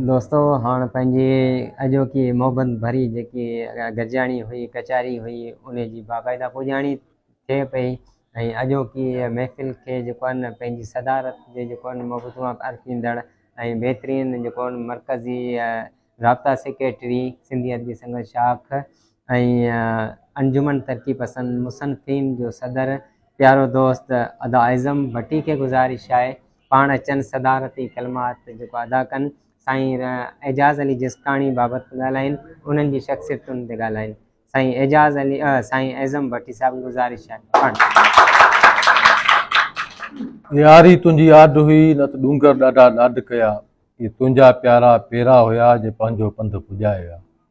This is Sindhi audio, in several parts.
دوستو هاڻ پنهنجي اڄوڪي محبت ڀري جيڪي گڏجاڻي هئي ڪچهري هئي ان جي باقاعده پڄاڻي ٿئي پئي ۽ اڄوڪي محفل کي جيڪو آهن پنهنجي صدارت جي جيڪو آهن مبتوا ارپيندڙ ۽ بهترين جيڪو آهن مرڪزي رابطا سيڪريٽري سنڌي ادبي سنگت شاخ ۽ انجمن ترقي پسند مصنفين جو صدر پيارو دوست ادا اعظم ڀٽي کي گذارش آهي پاڻ اچن صدارتي ڪلمات جيڪو ادا ڪن سائين اعجاز علي جسڪاڻي بابت ڳالهائين انهن جي شخصيتن تي ڳالهائين سائين اعجاز علي سائين اعظم ڀٽي صاحب گذارش آهي ياري تنهنجي آڏ هئي نه ته ڏونگر ڏاڍا لاڏ ڪيا اي تنهنجا پيارا پيرا هيا جي پنهنجو پنڌ پڄايا.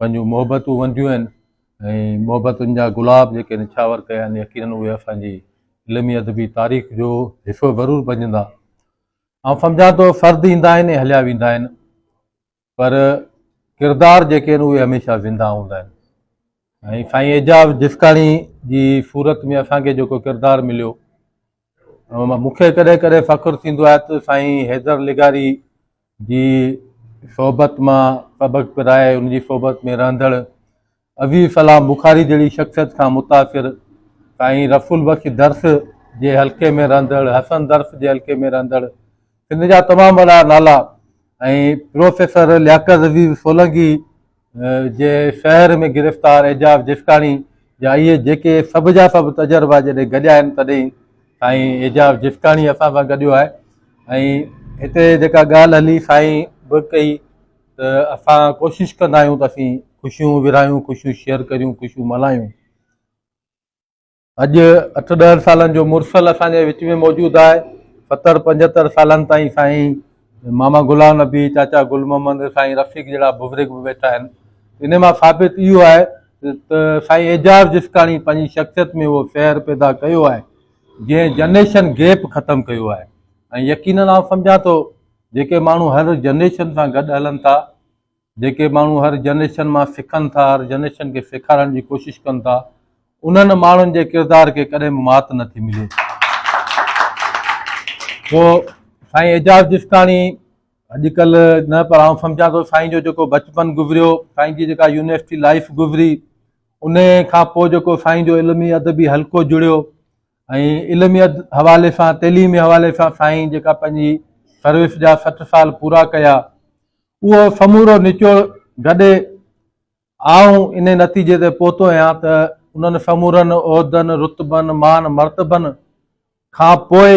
پنهنجون محبتون ونديون آهن ۽ محبتن جا گلاب جيڪي نڇاور ڪيا آهن يقينن اهي اسان جي علمي ادبي تاريخ جو حصو ضرور بنجندا. آئون سمجهان ٿو فرد ايندا آهن ۽ هليا ويندا آهن پر ڪردار جيڪي آهن اهي هميشه زنده هوندا آهن ۽ سائين اعجاز جسڪاڻي جي صورت ۾ اسان کي جيڪو ڪردار مليو مون کي ڪڏهن ڪڏهن فخر ٿيندو آهي ته سائين حيدر لغاري جي صحبت مان سبق پرائي ان جي صحبت ۾ رهندڙ عزيز سلام بخاري جهڙي شخصيت کان متاثر سائين رسول بخش درس جي حلقي ۾ رهندڙ حسن درس جي حلقي ۾ رهندڙ سنڌ جا تمام وڏا نالا ۽ پروفيسر لياقت عزيز سولنگي جي شهر ۾ گرفتار اعجاز جسڪاڻي جا اهي جيڪي سڀ جا سڀ تجربا جڏهن گڏيا آهن تڏهن سائين اعجاز جسڪاڻي اسان سان گڏيو آهي ۽ هتي جيڪا ڳالهه هلي سائين به ڪئي ته اسان ڪوشش ڪندا آهيون ته اسين خوشيون ورهايون خوشيون شيئر ڪريون خوشيون ملهايون اڄ اٺ ڏهن سالن جو مرسل اسان جي وچ ۾ موجود آهي ستر پنجهتر سالن تائين سائين ماما غلام نبي چاچا گل محمد سائين رفيق جهڙا بزرگ به ويٺا آهن ان مان ثابت اهو آهي ته سائين اعجاز جسڪاڻي پنهنجي شخصيت ۾ اهو سحر پيدا ڪيو آهي جنهن جنريشن گيپ ختم ڪيو آهي ۽ يقينن آئون سمجهان ٿو جيڪي ماڻهو هر جنريشن سان گڏ هلن ٿا جيڪي ماڻهو هر جنريشن مان سکن ٿا، هر جنريشن کي سيکارڻ جي ڪوشش ڪن ٿا، انهن ماڻهن جي ڪردار کي ڪڏهن به مات نه ٿي ملي. سو سائين اعجاز جسڪاڻي اڄڪلهه نه پر آئون سمجهان ٿو سائين جو جيڪو بچپن گذريو، سائين جي جيڪا يونيورسٽي لائيف گذري، ان کان پوء جيڪو سائين جو علمي ادبي حلقو جڙيو ۽ علمي حوالي سان تعليمي حوالي سان سائين جيڪا پنهنجي سروس جا سٺ سال پورا ڪيا، اهو سمورو نچوڙ گڏي آئون انهي نتيجي تي پهتو آهيان ته انهن سمورن عهدن، رتبن، مان مرتبن کان پوء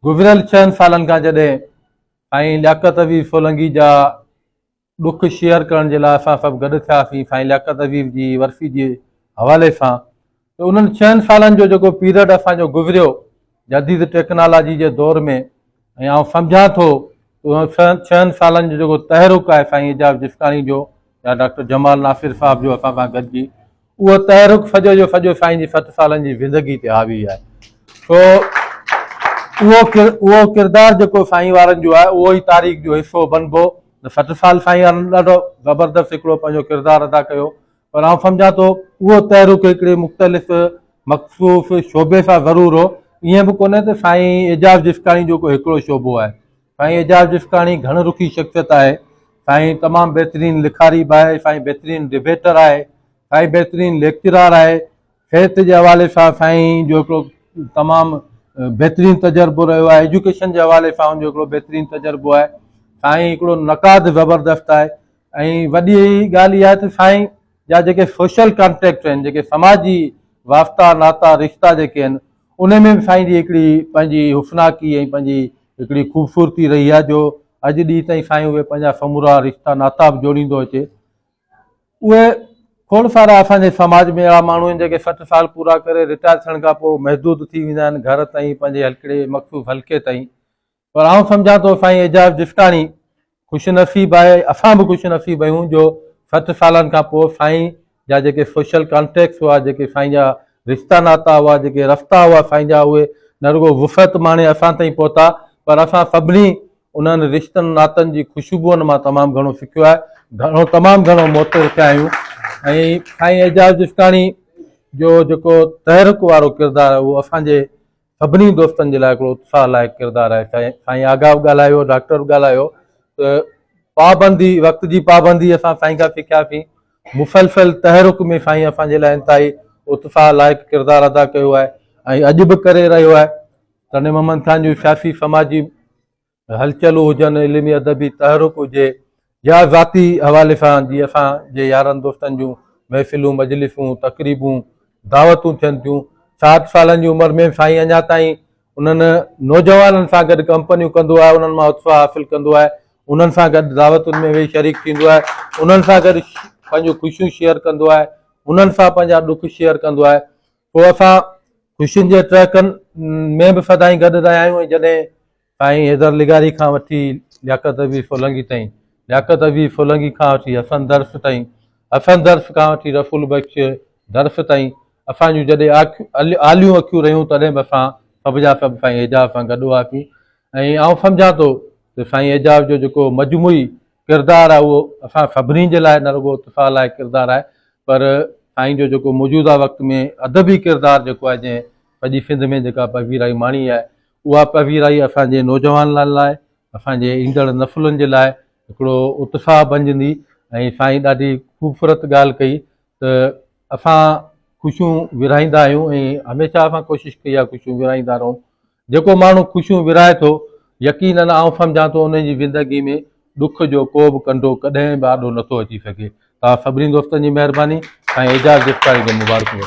گذريل ڇهن سالن کان جڏهن سائين لياقت عزيز سولنگي جا ڏک شيئر ڪرڻ جي لاء اسان سڀ گڏ ٿياسين سائين لياقت عزيز جي ورسي جي حوالي سان ته انهن ڇهن سالن جو جيڪو پيرڊ اسان جو گذريو جديد ٽيڪنالاجي جي دور ۾ ۽ آئون سمجهان ٿو ته ڇهن سالن جو جيڪو تحرڪ آهي سائين اعجاز جسڪاڻي جو يا ڊاڪٽر جمال ناصر صاحب جو اسان سان گڏجي اهو تحرڪ سڄو جو سڄو سائين جي سٺ سالن جي زندگي تي حاوي آهي سو اهو اهو ڪردار جيڪو سائين وارن جو آهي اهو ئي تاريخ جو حصو بنبو سٺ سال سائين ڏاڍو زبردست هڪڙو پنهنجو ڪردار ادا ڪيو پر آئون سمجهان ٿو اهو تحرڪ هڪڙي مختلف مخصوص شعبي سان ضرور هو، ائين به ڪونهي ته سائين اعجاز جسڪاڻي جو ڪو هڪڙو شعبو آهي. سائين اعجاز جسڪاڻي گهڻ رخي شخصيت آهي. سائين تمام بهترين لکاري به آهي، سائين بهترين ڊبيٽر آهي، سائين بهترين ليڪچرار آهي، صحت جي حوالي سان سائين جو هڪڙو تمام بهترين تجربو رهيو آهي، ايجوڪيشن جي حوالي سان ان جو هڪڙو بهترين تجربو آهي، سائين هڪڙو نقاد زبردست آهي، ۽ وڏي ڳالهه اها آهي ته سائين جا جيڪي سوشل ڪانٽيڪٽ آهن، جيڪي سماجي واسطا، ناتا، رشتا جيڪي آهن، ان ۾ به سائين جي هڪڙي پنهنجي حسناڪي ۽ پنهنجي هڪڙي خوبصورتي رهي آهي جو اڄ ڏينهن تائين سائين اهي پنهنجا سمورا رشتا ناتا به جوڙيندو اچي. اهي کوڙ سارا اسان جي سماج ۾ اهڙا ماڻهو آهن جيڪي سٺ سال پورا ڪري رٽائر ٿيڻ کان پوء محدود ٿي ويندا آهن گهر تائين پنهنجي هڪڙي مخصوص حلقي تائين پر آئون سمجهان ٿو سائين اعجاز جسڪاڻي خوش نصيب آهي اسان به خوش نصيب آهيون جو سٺ سالن کان پوء سائين جا جيڪي سوشل ڪانٽيڪٽس هئا جيڪي سائين جا رشتا ناتا هئا جيڪي رستا هئا سائين جا اهي نه رڳو وسعت ماڻي اسان تائين پهتا پر اسان سڀني انهن رشتن ناتن جي خوشبوئن مان تمام گهڻو سکيو آهي گهڻو تمام گهڻو موتر ٿيا آهيون ۽ سائين اعجاز جسڪاڻي جو جيڪو تحرڪ وارو ڪردار اهو اسان جي سڀني دوستن جي لاء هڪڙو اتساهه لائق ڪردار آهي سائين آغا به ڳالهايو ڊاڪٽر به ڳالهايو ته پابندي وقت جي پابندي اسان سائين کان سکياسين مسلسل تحرڪ ۾ سائين اسان جي لاء انتهائي اتساهه لائق ڪردار ادا ڪيو آهي ۽ اڄ به ڪري رهيو آهي تنهن محمد خان جو سياسي سماجي هلچلون هجن، علمي ادبي تحرڪ هجي يا ذاتي حوالي سان جي اسان جي يارن دوستن جون محفلون، مجلسون، تقريبون، دعوتون ٿين ٿيون. ساٺ سالن جي عمر ۾ سائين اڃا تائين انهن نوجوانن سان گڏ ڪمپنيون ڪندو آهي، انهن مان اتساهه حاصل ڪندو آهي، انهن سان گڏ دعوتن ۾ ويهي شريڪ ٿيندو آهي، انهن سان گڏ پنهنجون خوشيون شيئر ڪندو آهي، انهن سان پنهنجا ڏک شيئر ڪندو آهي. سو اسان خوشين جي ٽهڪن ۾ به سدائين گڏ رهيا آهيون ۽ جڏهن سائين حيدر لغاري کان وٺي لياقت حبيب سولنگي تائين، لياقت حبيب سولنگي کان وٺي حسن درس تائين، حسن درس کان وٺي رسول بخش درس تائين، اسان جون جڏهن آليون اکيون رهيون تڏهن به اسان سڀ جا سڀ سائين اعجاز سان گڏ هئاسين ۽ آئون سمجهان ٿو ته سائين اعجاز جو جيڪو مجموعي ڪردار آهي اهو اسان سڀني جي لاء نه رڳو اتساهه لاء ڪردار آهي پر سائين جو جيڪو موجوده وقت ۾ ادبي ڪردار جيڪو آهي جنهن سڄي سنڌ ۾ جيڪا پذيرائي ماڻي آهي اها پذيرائي اسان جي نوجوانن لاء، اسان جي ايندڙ نسلن جي لاء هڪڙو اتساهه بنجندي ۽ سائين ڏاڍي خوبصورت ڳالهه ڪئي ته اسان خوشيون ورهائيندا آهيون ۽ هميشه اسان ڪوشش ڪئي آهي خوشيون ورهائيندا رهون. جيڪو ماڻهو خوشيون ورهائي ٿو يقينن آئون سمجهان ٿو ان جي زندگي ۾ ڏک جو ڪو به ڪنڊو ڪڏهن به آڏو نٿو اچي سگهي. توهان سڀني دوستن جي مهرباني سائين اعجاز جسڪاڻي کي مبارڪون.